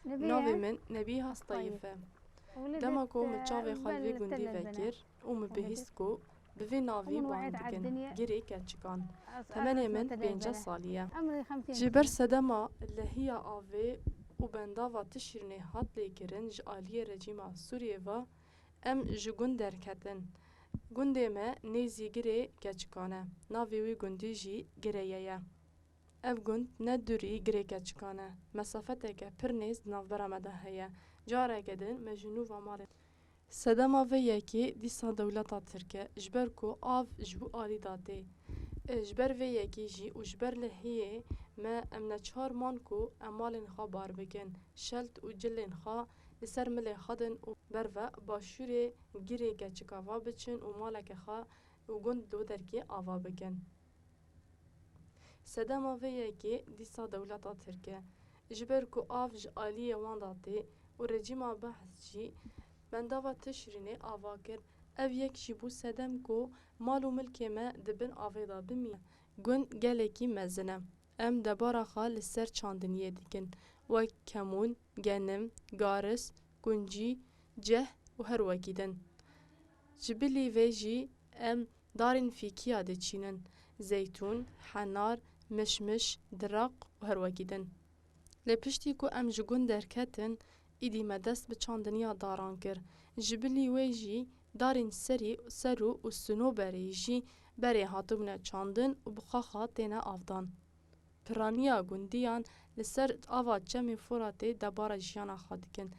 Navê min Nebîha Stayif e. Dema ku min çavê xwe li vê gundî vekir û min bihîst ku bi vê navî bang dikin girê keçikan, temenê min pênceh salî ye. Ji ber sedema lehiya avê û bendava ti şîrînê hat lêkirin ji aliyê rejîma Sûriyê ve em ji gund derketin. Gundê me nêzî girê keçikan e. Navê wî gundî jî Gireye ye. Ev gund ne dûrî girê keçikan e, mesafeteke pir nêz di navbera me de heye. Careke din me ji nû va malê. Sedema vê yekê dîsa dewleta tirk e, ji ber ku av ji bo alî da tê. Ji ber vê yekê jî û ji ber lehiyê me em neçar man ku em malên xwe bar bikin, şelt û cilên xwe li ser milê xwedin û ber ve başûrê girê keçika va biçin û maleke xwe û gund li wir derkê ava bikin. Sedema vê yekê dîsa dewleta Tirk e. Ji ber ku av ji aliyê wan de tê û rejîma Behs jî bendava Tişrînê ava kir, ev yek jî bû sedem ku mal û milkê me di bin avê de bimîne. Gund gelekî mezin e. Em debara xwe li ser çandiniyê dikin, wek kemûn, genim, garis, kuncî, ceh û her wekî din. Ji bilî vê jî em darên fîkîya diçînin, zeytûn, henar, mişmiş, diraq û her wekî din. Lê piştî ku em ji gund derketin, îdî me dest bi çandiniya daran kir. Ji bilî wê jî darên serî, serû û sinoberî jî berê hatibûne çandin û bi xaxa têne avdan. Piraniya gundiyan li ser ava Çemê Foratê debara jiyana xwe dikin.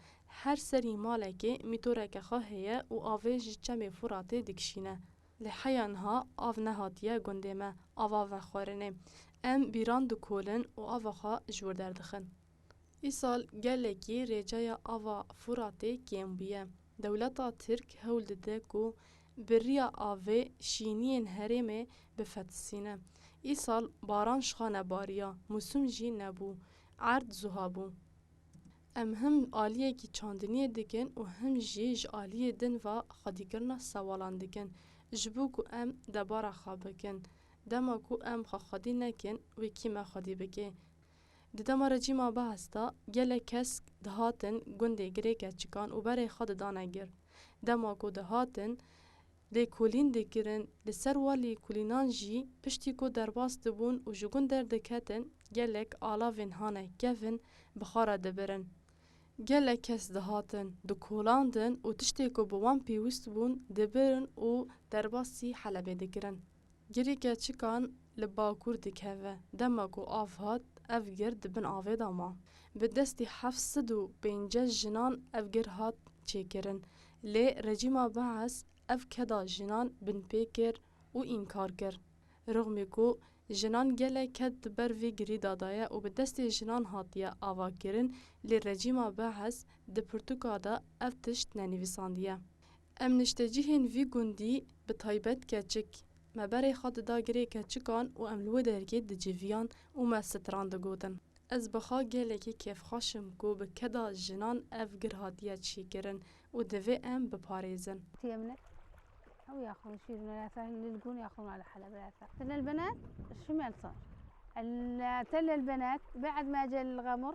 Her serî malekê mîtoreke xwe heye û avê ji Çemê Foratê dikişîne. Lê heya niha av nehatiye gundê me ava vexwarinê. Em bîran dikolin û ava xwe ji wir derdixin. Îsal gelekî rêceya ava Furatê kêm bûye. Dewleta Tirk hewl dide ku bi riya avê şîniyên herêmê bifetisîne. Îsal baran şixa nebariya, musum jî nebû, erd zuha bû. Em him aliyekî çandiniyê dikin û him jî ji aliyê din ve xwedîkirina sewalan dikin. Ji bo ku em debara xwe bikin, dema ku em xwe xwedî nekin wê kî me xwedî bike. Di dema rejîma Baas de gelek kes dihatin gundê girêke çikan û berê xwe didane gir. Dema ku dihatin lêkolîn dikirin, li ser wan lêkolînan jî piştî ku derbas dibûn û ji gund derdiketin gelek alavên hane kevin bixara dibirin. Gelek kes dihatin dikolandin û tiştê ku bi wan pêwîst bûn dibirin û derbasî Helebê dikirin. Girê keçikan li bakur dikeve. Dema ku av hat, ev gir di bin avê de ma. Bi destê heft sed û pênceh jinan ev gir hat çêkirin. Lê rejîma Baas ev keda jinan binpê kir û înkar kir. Rixmî ku jinan gelek ked di ber vê girî de daye û bi destê jinan hatiye avakirin lê rejîma Baas di pirtûka de ev tişt nenivîsandiye. Em niştecihên vî gundî bi taybet keçik me berê xwe dida girê keçikan û em li wê dergê diciviyan û me stran digotin. Ez bi xwe gelekî kêfxweş im ku bi keda jinan ev gir hatiye çîkirin û divê em biparêzin. Tiyemine ew ya xwe şîrîna ya te lil gûn ya xwe li Heleb ya te. Te lil benet şimel sar. El te lil benet bê'ed me cel gamur.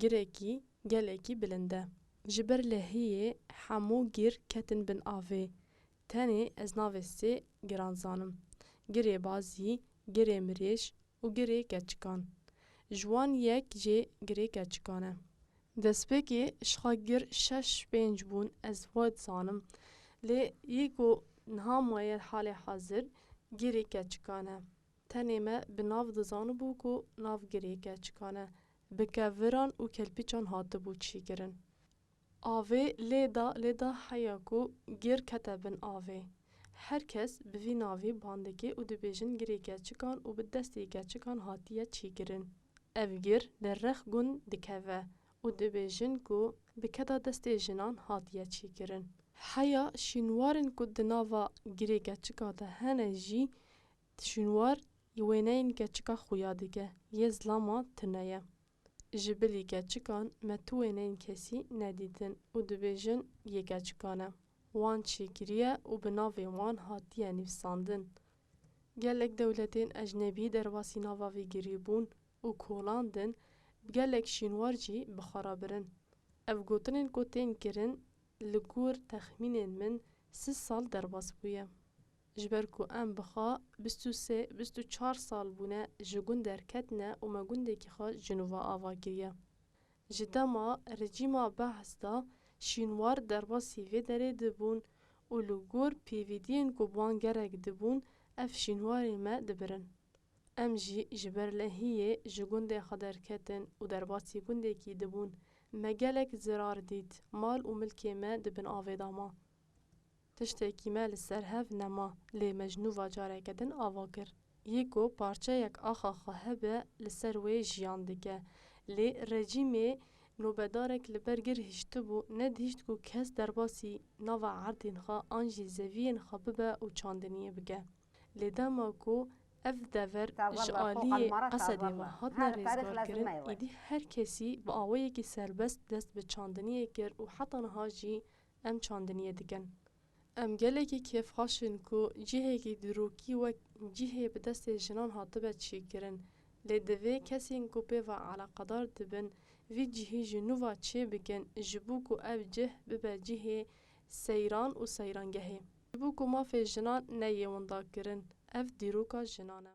Girekî gelekî bilind e. Ji ber lehiyê hemû gir ketin bin avê. Tenê ez navê sê giran zanim, Girê Bazî, Girê Mirêş û Girê Keçikan. Ji wan yek jê Girê Keçikan e. Destpêkê şixa gir şeş pênc bûn ez wa dizanim. Lê yê ku niha maye li halê hazir Girê Keçikan e. Tenê me bi nav dizanibû ku nav girê keçikan e, bi keviran û kelpîçan hatibû çîkirin. Avê lê da lê da heya ku gir kete bin avê. Her kes bi vî navê ban dike û dibêjin girê keçikan û bi destê keçikan hatiye çîkirin. Ev gir li rex gund dikeve û dibêjin ku bi keta destê jinan hatiye çîkirin. Heya şînwarên ku di nava girê keçikan de hene jî Ti şûnwar yê wêneyên keçika xuya dike yê zilama tune ye. Ji bilî keçikan me tu wêneyên kesî nedîtin û dibêjin yê keçikan e. Wan çêkiriye û bi navê wan hatiye nivîsandin. Gelek dewletên ecnebî derbasî nava vê girî bûn û kolandin bi gelek şînwar jî bi xwe re birin. Ev gotinên ku tên kirin li gor texmînên min sih sal derbas bûye. Ji ber ku em bi xwe bîst û sê, bîst û çar sal bûne ji gund derketine û me gundekî xwe Jinûva ava kiriye. Ji dema rejîma Behs de şînwar derbasî vê derê dibûn û li gor pvdiyên ku bi wan gerek dibûn ev şînwarên me dibirin. Em jî ji ber lehiyê ji gundê xwe derketin û derbasî gundekî dibûn. Me gelek zirar dît, mal û milkê me di bin avê de ma. Tiştekî me li ser hev nema, lê me ji nû va careke din ava kir. Yê ku parçeyek axa xwe hebe li ser wê jiyan dike. Lê rejîmê nobedarek li ber gir hiştibû, nedihişt ku kes derbasî nava erdên xwe an jî zeviyên xwe bibe û çandiniyê bike. Lê dema ku ev dever ji aliyê Esedê ve hatine rêzgarkirin, êdî her kesî bi awayekî serbest dest bi çandiniyê kir û heta niha jî Em çandiniyê dikin. Em gelekî kêfxweş in ku cihekî dîrokî wek cihê bi destê jinan hatibe çêkirin, lê divê kesên ku pê ve eleqedar dibin vî cihî ji nû ve çê bikin ji bo ku ev cih bibe cihê seyran û seyrangehê. Ji bo ku mafê jinan neyê windakirin, ev dîroka jinan e.